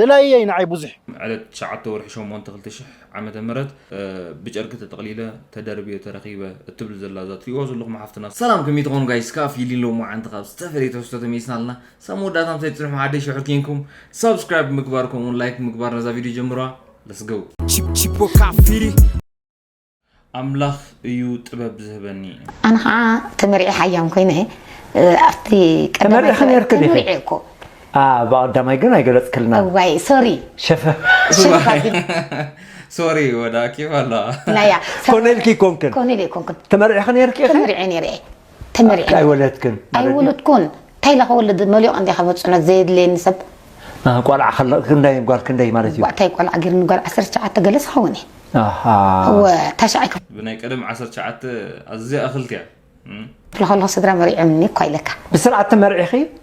ደላይየይ ንዓይ ቡዙሕ። ዕለት ትሽዓተ ወርሒ ሸሞንተ ክልተ ሽሕ ዓመተ ምህረት ብጨርቂ ተጠቅሊለ ተደርብየ ተረኪበ እትብል ዘላ እዛ ትሪእዋ ዘለኹም ሓፍትና። ሰላም ከመይ ትኾኑ ጋይስ ክኣ ፊሊ ሎምዓንቲ ካብ ዝተፈለየ ትሕዝቶ ተመሊስና ኣለና ሳብ መወዳእታ ምሳይ ፅንሑ ዓደይ ሽሑር ኬንኩም ሳብስክራይብ ብምግባር ከምኡ ውን ላይክ ብምግባር ነዛ ቪድዮ ጀምርዋ let's go። Chip chip o kafiri. ኣምላኽ እዩ ጥበብ ዝህበኒ። ኣነ ከኣ ተመሪዔ ሓያም ኮይነ ኣብቲ ቀዳማይ ተመሪዕኺ ጉባኤ ነርኪ ዲኺ? ተመሪዔ እኮ ኣኣ ብቀዳማይ ግን ኣይገለጽክልናን። እዋይ ሶሪ ሸፈ ሽፍ ኣቢል ሶሪ ወዳ ኬፍ ኣለኻ? ናያ ኮነልኪ ኮንክን ኮነል ኣይኮንኩን ተመሪዕኺ ነርኪ ኢኺ? ተመሪዔ ነይረ እየ ተመርዒና ኣይወለድክን ማለት ድዩ? ኣይወለድኩን ታይ ኢለ ከወልድ መሊቁ እንድያ ካብ ፅዕነት ዘየድልየኒ ሰብ ኣህ፣ ቆልዓ ከለ ክንደይ ጓል ክንደይ ማለት እዩ? ጓዕታይ ቆልዓ ገይርኒ ጓል ዓሰርተ ትሽዓተ ገለ ዝኸውን እየ ኣሃ እወ ታሽዓይ ክፍሊ ብናይ ቀደም ዓሰርተ ትሽዓተ ኣዝያ እኽልቲ እያ እም። ከለኹ ስድራ መሪዖምኒ እኳ ኢለካ ብስርዓት ተመርዒኺ?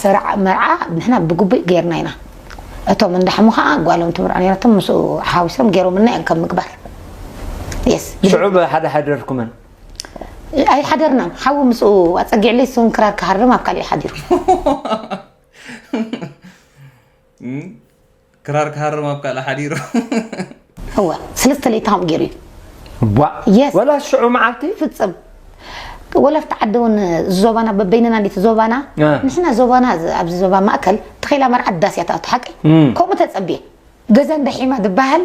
ስራዕ መርዓ ንሕና ብግቡእ ገይርና ኢና እቶም እንዳሓሙ ከኣ ጓሎም ትምርዖ ነይራቶም ምስኡ ሓዊሶም ገይሮምልና እዮም ከም ምግባር የስ ሽዑ ብሓደ ሓደርኩመን ኣይሓደርናን ሓዊ ምስኡ ኣፀጊዕለይ እሱን ክራር ክሃርም ኣብ ካልእ ሓዲሩ ክራር ክሃርም ኣብ ካልእ ሓዲሩ እወ ሰለስተ ለይቲ ከምኡ ገይሩ እዩ ቧእ ወላ ሽዑ መዓልቲ ፍፅም ወላ ኣብቲ ዓዲ እውን ዞባና በበይንና እንዲቲ ዞባና ንሕና ዞባና ኣብዚ ዞባ ማእከል ተኸይላ መርዓ ዳስ እያ ትኣቱ ሓቂ ከምኡ ተፀብየ ገዛ እንዳሒማ ዝበሃል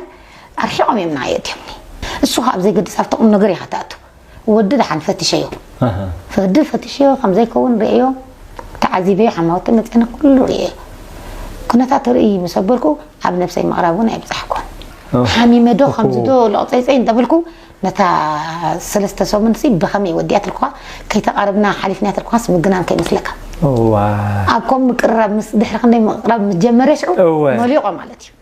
ኣርሒቖም እዮም ንዓይ የእትዮምኒ እሱ ከዓ ኣብ ዘይገድስ ኣብቲ ቁም ነገር ኢኻ ትኣቱ ወዲ ደሓን ፈትሸዮ ወዲ ፈትሸዮ ከም ዘይከውን ርእየዮ ተዓዚበዮ ሓማውተይ መጺኣኒ ኩሉ ርእየዮ ኩነታቱ ርእይ ምስ ኣበልኩ ኣብ ነብሰይ ምቕራብ እውን ኣይብጻሕኩን ሓሚመ ዶ ከምዚ ዶ ለቕጸይጸይ እንተበልኩ ነታ ሰለስተ ሰሙንሲ ብኸመይ ወዲኣትልኩኻ ከይተቓርብና ሓሊፍናያ ተልኩኻስ ምግናን ከይመስለካ ኣብ ከም ምቅርራብ ምስ ድሕሪ ክንደይ ምቕራብ ምስ ጀመረ ሽዑ መሊቖ ማለት እዩ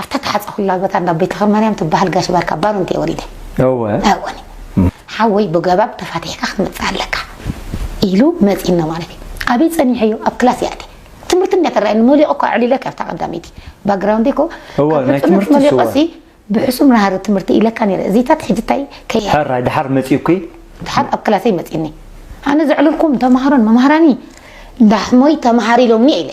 ኣብታ ተሓጸኹላ ቦታ እንዳ ቤተክርማርያም ትበሃል ጋሽ ባርካ ባሩንት እየ ወሊደ። እወ። እወኒ። ሓወይ ብገባብ ተፋቲሕካ ክትመጽእ ኣለካ። ኢሉ መጺእና ማለት እዩ። ኣበይ ጸኒሐዮ ኣብ ክላስ ይኣቲ። ትምህርቲ እንድያ ትረኣየኒ ሞሊቐ እኮ ኣዕሊለካ ኣብታ ቀዳመይቲ። ባግራውንደይ እኮ እወ፣ ካብ ናይ ህጹነት ትምህርትስ እወ። ሞሊቐሲ ብሕሱም ናህሪ ትምህርቲ ኢለካ ነይረ። እዚታት ሕጂ እንታይ ከይ ሕራይ ድሓር መጺኡኪ? ድሓር ኣብ ክላሰይ መጺኡኒ። ኣነ ዘዕለልኩም ተማሃሮን መማህራኒ እንዳ ሕሞይ ተማሃር ኢሎምኒ እየ ኢለ።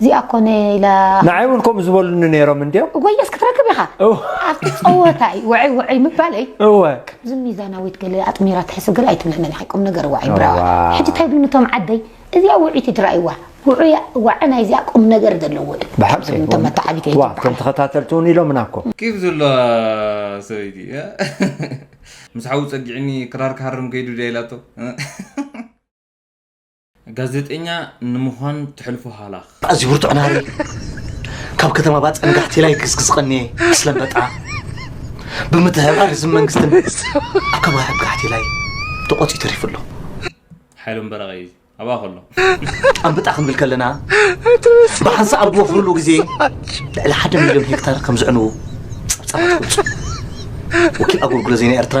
እዚኣ ኮነ ኢላ ንዓይ እውን ከምኡ ዝበሉኒ ነይሮም እንድዮም እወየስ ክትረክብ ኢኻ እወ። ኣብቲ ፀወታ እዩ ውዕይ ውዕይ ምባለይ እወ ከምዚ ሚዛናዊት ገለ ኣጥሚራ ትሕስብ ገለ ኣይትብለንን ኢኺ ቁም ነገር ዋዒ ብራዋ እዋይ። ሕጂ እንታይ ይብሉኒ እቶም ዓደይ እዚኣ ውዕይቲ ድራይዋ ውዑያ ዋዒ ናይ እዚኣ ቁም ነገር ዘለዎ እዩ ብሓቂ ዝብሉኒ እቶም መተዓቢቲ ዋ እቶም ተኸታተልቲ እውን ኢሎምና እኮ ኬፍ ዘለዋ ሰበይቲ ምስ ሓዉ ጸጊዕኒ ክራር ክሃርም ከይዱ ድያ ኢላቶ ጋዜጠኛ ንምዃን ትሕልፎ ሃላኽ። ኣዝዩ ብርቱዕ ናሪ ካብ ከተማ ባጸንጋሕቲ ላይ ክስክስ ቀንየ ስለመጣ ብምትሕብባር ህዝቢ መንግስትን ኣብ ከባቢ ብጋሕቲ ላይ ተቖጺ ተሪፉ ኣሎ። ሓይሎም በረቐ እዩ ኣብኣ ከሎ ጣምብጣ ክንብል ከለና ብሓንሳ ኣብ ዝወፍርሉ ግዜ ልዕሊ ሓደ ሚልዮን ሄክታር ከም ዝዕንዉ ጸብጻባት ይገልጹ። ወኪል ኣገልግሎት ዜና ኤርትራ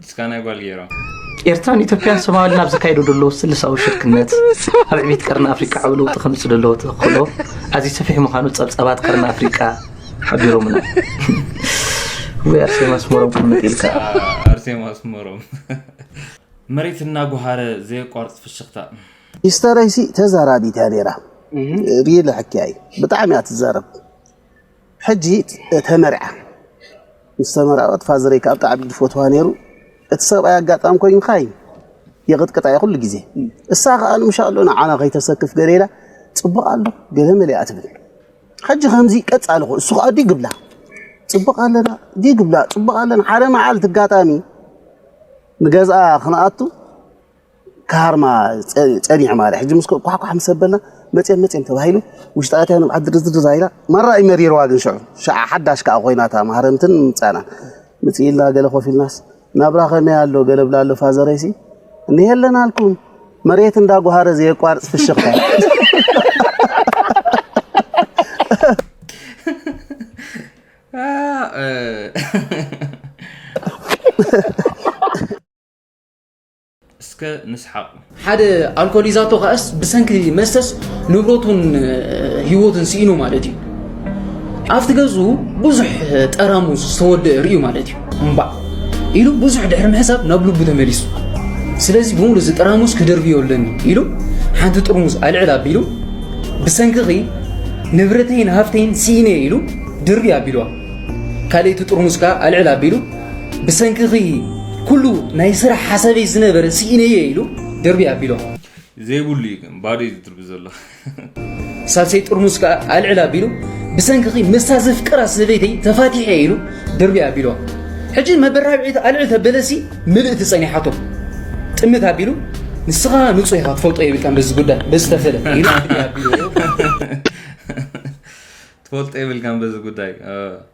እስካ ናይ ጓል ገይሮም ኤርትራን ኢትዮጵያን ሶማልን ኣብ ዘካየዱ ደለዉ ስልሳዊ ሽርክነት ኣብ ዕቤት ቀርኒ ኣፍሪቃ ዓብ ለውጢ ከምጽእ ደለዎ ተኽእሎ ኣዝዩ ሰፊሕ ምዃኑ ጸብጻባት ቀርኒ ኣፍሪቃ ሓቢሮምና ወይ ኣርሴማ ኣስመሮም ቅምጥ ኢልካ ኣርሴማ ኣስመሮም መሬት እናጓሃረ ዘየቋርፅ ፍሽኽታ ኢስተረይሲ ተዛራቢት እያ ነይራ ሪለ ሕክያ እዩ ብጣዕሚ እያ ትዛረብ ሕጂ ተመርዓ ምስ ተመርዐወት ፋዘረይ ከዓ ብጣዕሚ ዝፈትዋ ነይሩ እቲ ሰብኣይ ኣጋጣሚ ኮይኑ ካይ የቕጥቅጣ እየ ኩሉ ግዜ እሳ ከዓ ንምሻ ኣሎ ንዓና ከይተሰክፍ ገለ ኢላ ፅቡቕ ኣሎ ገለ መሊኣ ትብል ሕጂ ከምዚ ቀፃሊ ኮ እሱ ከዓ ዲግ ብላ ፅቡቕ ኣለና ዲግ ብላ ፅቡቕ ኣለና ሓደ መዓልቲ ኣጋጣሚ ንገዝኣ ክንኣቱ ካርማ ጸኒዑ ማለት ሕጂ ምስ ኳሕኳሕ ምስ ኣበልና መጽም መጽም ተባሂሉ ውሽጢ ኣትያ ንብዓት ድርዝድር ዛይላ ማራ እዩ መሪርዋ ግን ሽዑ ሽዓ ሓዳሽ ከዓ ኮይናታ ማህረምትን ምምጻናን ምጽ ኢልና ገለ ኮፍ ኢልናስ ናብራ ከመይ ኣሎ ገለ ብላ ኣሎ ፋዘረይሲ እኒሄ ኣለና ኣልኩም መሬት እንዳ ጓሃረ ዘየቋርጽ ፍሽኽታ Ah, euh... እስከ ንስሓቕ። ሓደ ኣልኮሊዛቶ ከኣስ ብሰንኪ መስተስ ንብረቱን ህይወቱን ስኢኑ ማለት እዩ ኣብቲ ገዙ ብዙሕ ጠራሙ ዝተወደአ ርእዩ ማለት እዩ እምባዕ ኢሉ ብዙሕ ድሕሪ ምሕሳብ ናብ ልቡ ተመሊሱ ስለዚ ብምሉ እዚ ጠራሙስ ክደርብዮ ኣለኒ ኢሉ ሓንቲ ጥርሙዝ ኣልዕል ኣቢሉ ብሰንክኺ ንብረተይን ሃፍተይን ስኢነ ኢሉ ድርቢ ኣቢልዋ ካልኣይቲ ጥርሙዝ ከዓ ኣልዕል ኣቢሉ ብሰንክኺ ኩሉ ናይ ስራሕ ሓሳበይ ዝነበረ ስኢነየ ኢሉ ደርቢ ኣቢሎ ዘይብሉ እዩ ግን ባዶ እዩ ዝድርቢ ዘሎ ሳልሰይ ጥርሙስ ከዓ ኣልዕል ኣቢሉ ብሰንክኺ ምስታ ዘፍቅራ ሰበይተይ ተፋቲሐ ኢሉ ደርቢ ኣቢሎ ሕጂ መበራብዒት ኣልዕል ተበለሲ ምልእቲ ጸኒሓቶ ጥምት ኣቢሉ ንስኻ ንጹህ ኢኻ ትፈልጦ የብልካን በዚ ጉዳይ በዚ ተፈለ ኢሉ ኣቢሉ ትፈልጦ የብልካን በዚ ጉዳይ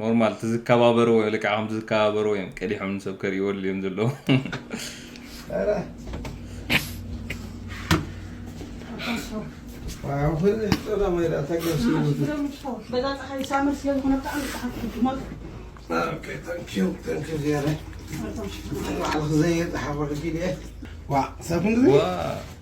ኖርማል እቲ ዝከባበርዎ ልክዕ ከምቲ ዝከባበርዎ እዮም ቀዲሖም ንሰብ ከርእይወሉ እዮም ዘለዎ ዋው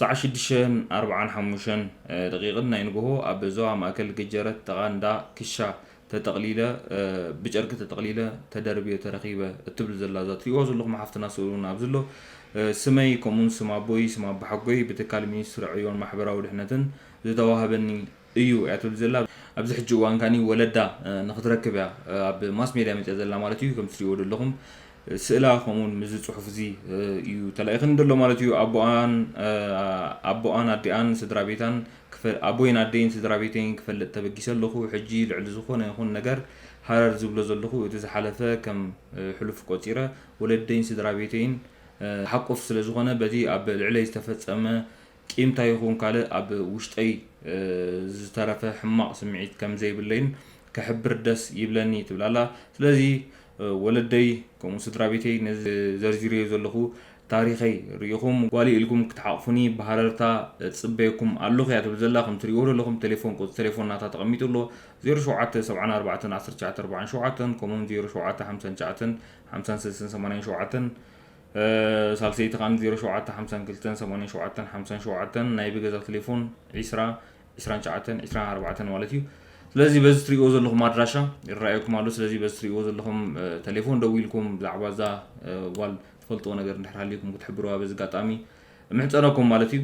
ሰዓት ሽዱሽተን ኣርብዓን ሓሙሽተን ደቒቕን ናይ ንግሆ ኣብ ዞባ ማእከል ገጀረት ጥቓ እንዳ ክሻ ተጠቕሊለ ብጨርቂ ተጠቕሊለ ተደርብየ ተረኺበ እትብል ዘላ እዛ ትሪእዋ ዘለኹም ሓፍትና ስእሉ እውን ኣብዚ ኣሎ ስመይ ከምኡውን ስም ኣቦይ ስም ኣቦሓጎይ ብትካል ሚኒስትሪ ዕዮን ማሕበራዊ ድሕነትን ዝተዋህበኒ እዩ እያ ትብል ዘላ ኣብዚ ሕጂ እዋን ካኒ ወለዳ ንክትረክብ እያ ኣብ ማስ ሜድያ መጽያ ዘላ ማለት እዩ ከምቲ ትሪእዎ ዘለኹም ስእላ ከምኡውን ምዚ ጽሑፍ እዚ እዩ ተላኢኽኒ ዘሎ ማለት እዩ ኣቦኣን ኣቦኣን ኣዲኣን ስድራ ቤታን ኣቦይን ኣደይን ስድራ ቤተይን ክፈልጥ ተበጊሰ ኣለኹ ሕጂ ልዕሊ ዝኾነ ይኹን ነገር ሃረር ዝብሎ ዘለኹ እቲ ዝሓለፈ ከም ሕሉፍ ቆጺረ ወለደይን ስድራ ቤተይን ሓቁፍ ስለ ዝኾነ በቲ ኣብ ልዕለይ ዝተፈጸመ ቂም ታይ ይኹን ካልእ ኣብ ውሽጠይ ዝተረፈ ሕማቕ ስምዒት ከም ዘይብለይን ክሕብር ደስ ይብለኒ ትብል ኣላ። ስለዚ ወለደይ ከምኡ ስድራቤተይ ነዚ ዘርዚረዮ ዘለኹ ታሪኸይ ሪኢኹም ጓለይ ኢልኩም ክትሓቑፉኒ ብሃረርታ እጽበየኩም ኣለኹ እያ ትብል ዘላ። ከም ትሪእዎ ዘለኹም ቴሌፎን ቁጽሪ ቴሌፎን ናታ ተቐሚጡ ኣሎ ዜሮ ሸውዓተ ሰብዓን ኣርባዕተን ዓሰርተ ትሽዓተ ኣርባዓን ሸውዓተን ከምኡውን ዜሮ ሸውዓተ ሓምሳን ትሽዓተን ሓምሳን ሰለስተን ሰማንያን ሸውዓተን ሳልሰይቲ ከኣ ዜሮ ሸውዓተ ሓምሳን ክልተን ሰማንያን ሸውዓተን ሓምሳን ሸውዓተን ናይ ብገዛ ቴሌፎን ዒስራ ዒስራን ሸዓተን ዒስራን ኣርባዕተን ማለት እዩ ስለዚ በዚ ትሪእዎ ዘለኹም ኣድራሻ ይረኣየኩም ኣሎ ስለዚ በዚ ትሪእዎ ዘለኹም ቴሌፎን ደው ኢልኩም ብዛዕባ እዛ ጓል ትፈልጥዎ ነገር እንድሕር ሃልዩኩም ክትሕብርዋ በዚ ኣጋጣሚ ምሕፀነኩም ማለት እዩ